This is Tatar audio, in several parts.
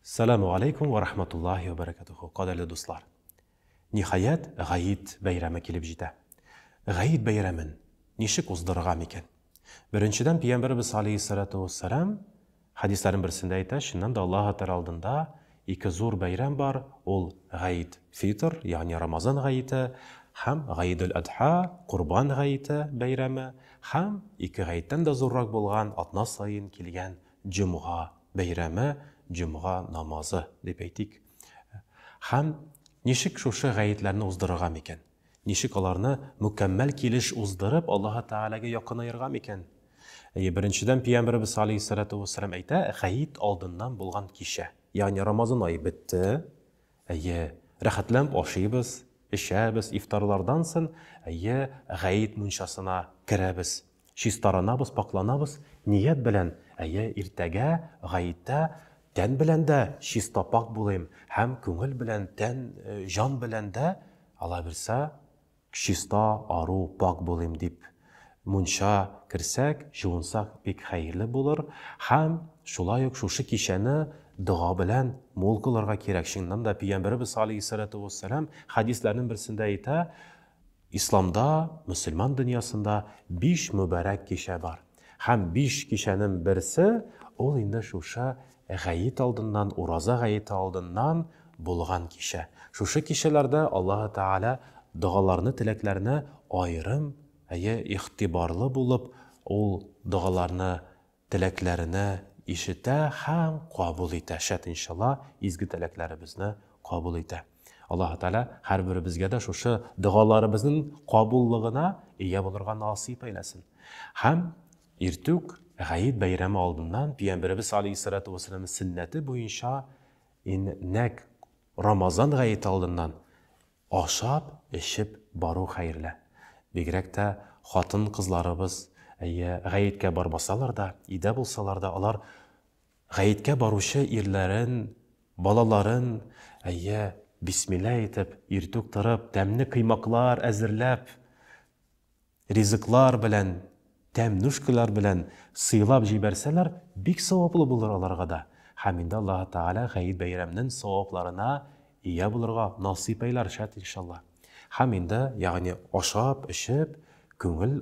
Сәләму алейкум вә рахматуллахи вә бәрәкәтүхү, кадерле дуслар! Ниһаять, Гает бәйрәме килеп җитә. Гает бәйрәмен ничек уздырырга микән? Беренчедән, Пәйгамбәребез алейһиссәләтү уәссәлам хәдисләрнең берсендә әйтә, чыннан да Аллаһы Тәгалә алдында ике зур бәйрәм бар, ул Гает фитр, ягъни Рамазан гаете, һәм Гаидул Адха, Корбан гаете бәйрәме, һәм ике гаеттән дә зуррак булган атна саен килгән Җомга бәйрәме, җомга намазы, дип әйтик. Һәм ничек шушы гаетләрне уздырырга микән? Ничек аларны мөкәммәл килеш уздырып, Аллаһы Тәгаләгә якынаерга микән? Әйе, беренчедән Пәйгамбәребез алейһиссалату вассалам әйтә, гаит алдыннан булган кичә. Ягъни Рамазан ае бетте, Әйе, рәхәтләнеп ашыйбыз, эчәбез, ифтарлардан сон, әйе, гает мунчасына керәбез. Чистаранабыз, пакъланабыз, ният белән, әйе, иртәгә, гаеттә, тән белән дә чиста-пакь булыйм һәм күңел белән, тән, җан белән дә, аллабирса, Чиста, ару, пакь булыйм дип мунча керсәк, җуынсак бик хәерле булыр һәм шулай ук шушы кичәне дога белән мул кылырга кирәк. Чыннан да Пөйгәмбәребез галәйһиссәлату вәссәлам хәдисләренең берсендә әйтә, Исламда, мөселман дөньясында биш мөбарәк кичә бар. Һәм биш кичәнен берсе, ул инде шушы гает алдыннан, ураза гаете алдыннан булган кичә. Шушы кичәләрдә Аллаһы Тәгалә догаларны, теләкләрне аерым, әйе, игътибарлы булып, Ул догаларны, теләкләрне ишетә һәм кабул итә, шәт иншалла, изге теләкләребезне кабул итә. Аллаһы Тәгалә һәрберебезгә дә шушы догаларыбызның кабуллыгына ия булырга насыйп әйләсен. Һәм иртүк Гает бәйрәме алдыннан Пиямберебез алейһиссалату вассалам сөннәте буенча нәк Рамазан гаете алдыннан ашап, эчеп бару хәерле. Бигрәк тә хатын-кызларыбыз әйе, гаеткә бармасалар да, өйдә булсалар да, алар Гаеткә баручы ирләрен, балаларын, әйе, бисмилла әйтеп, иртүк торып, тәмле коймаклар әзерләп, ризыклар белән, тәм-нүшкәләр белән сыйлап җибәрсәләр, бик саваплы булыр аларга да. Һәм инде Аллаһы Тәгалә Гает бәйрәменен савапларына ия булырга насыйп әйләр, шәт, иншалла. Һәм инде, ягъни ашап, эчеп, күңел.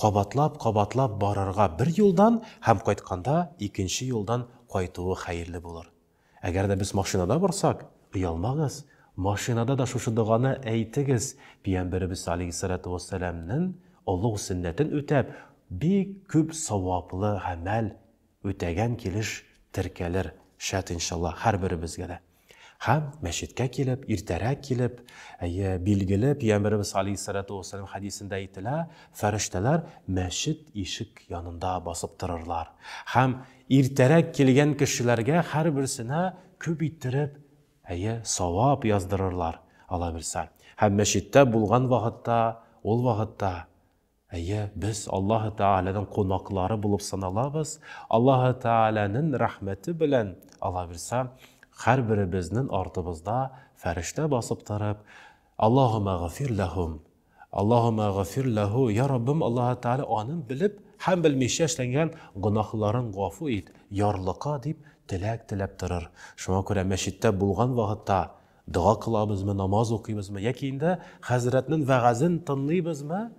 Кабатлап, кабатлап барырга бер юлдан һәм кайтканда икенче юлдан кайтуы хәерле булыр. Әгәр дә без машинада барсак, оялмагыз, машинада да шушы доганы әйтегез, пиямберебез алейһиссалату уәссәламнен олуг сөннәтен үтәп, бик күп саваплы гамәл үтәгән килеш теркәлер, шәт иншаллаһ, һәрберебезгә дә. Һәм мәчеткә килеп, иртәрәк килеп, әйе, билгеле, Пиямберебез алейһиссалату уассалям хәдисендә әйтелә, фәрештәләр мәчет ишек янында басып торырлар. Һәм иртәрәк килгән кешеләргә һәрберсенә күп иттереп, әйе, савап яздырырлар, аллабирса. Һәм мәчеттә булган вакытта, ул вакытта Әйе, без Аллаһы Тәгаләнең кунаклары булып саналабыз. Аллаһы Тәгаләнең рәхмәте белән, алабирса, һәрберебезнең артыбызда фәрештә басып торып, Аллаһумма гфир ләһум, Аллаһумма гфир ләһу, я Раббым Аллаһы Тәгалә аның белеп һәм белмичә эшләнгән гөнаһларын гафу ит, ярлыка, дип теләк теләп торыр. Шуңа күрә мәчеттә булган вакытта Дога кылабызмы, намаз укыйбызмы яки инде хәзрәтнең вәгазен тынлыйбызмы,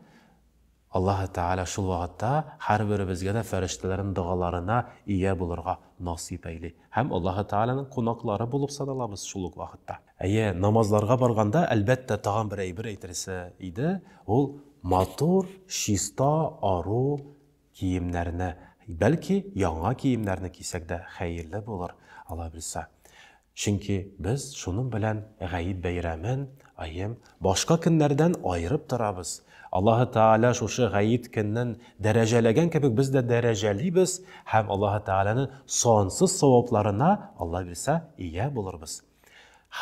Аллаһы Тәгалә шул вакытта һәрберебезгә дә фәрештәләрнең догаларына ия булырга насыйп әйли һәм Аллаһы Тәгаләнең кунаклары булып саналабыз шул ук вакытта. Әйе, намазларга барганда, әлбәттә, тагын бер әйбер әйтелсә иде, ул матур, чиста, ару, Киемнәрне, бәлки, яңа киемнәрне кисәк дә хәерле булыр, алабилса. Чөнки без шуның белән Гает бәйрәмен, аем, башка көннәрдән аерып торабыз. Аллаһы Тәгалә шушы Гает көннен дәрәҗәләгән кебек без дә дәрәҗәлибез һәм Аллаһы Тәгаләнең сансыз савапларына, алабилса, ия булырбыз.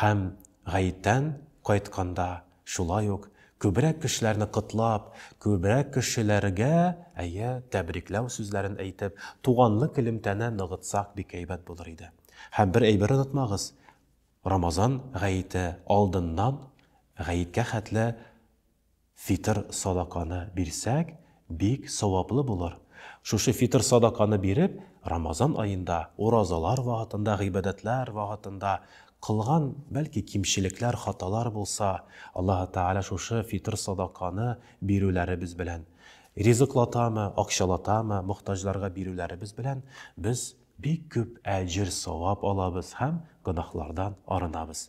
Һәм гаеттән кайтканда шулай ук күбрәк кешеләрне котлап, күбрәк кешеләргә, әйе, тәбрикләү сүзләрен әйтеп, туганлык элемтәне ныгытсак бик әйбәт булыр иде. Һәм бер әйбер онытмагыз, Рамазан гаете алдыннан гаеткә хәтле Фитыр садаканы бирсәк, бик саваплы булыр. Шушы фитыр садаканы биреп, Рамазан аенда, уразалар вакытында, гыйбадәтләр вакытында кылган, бәлки, кимчелекләр, хаталар булса, Аллаһы Тәгалә шушы фитыр садаканы бирүләребез белән, ризыклатамы, акчалатамы, мохтаҗларга бирүләребез белән без бик күп әҗер-савап алабыз һәм гөнаһлардан арынабыз.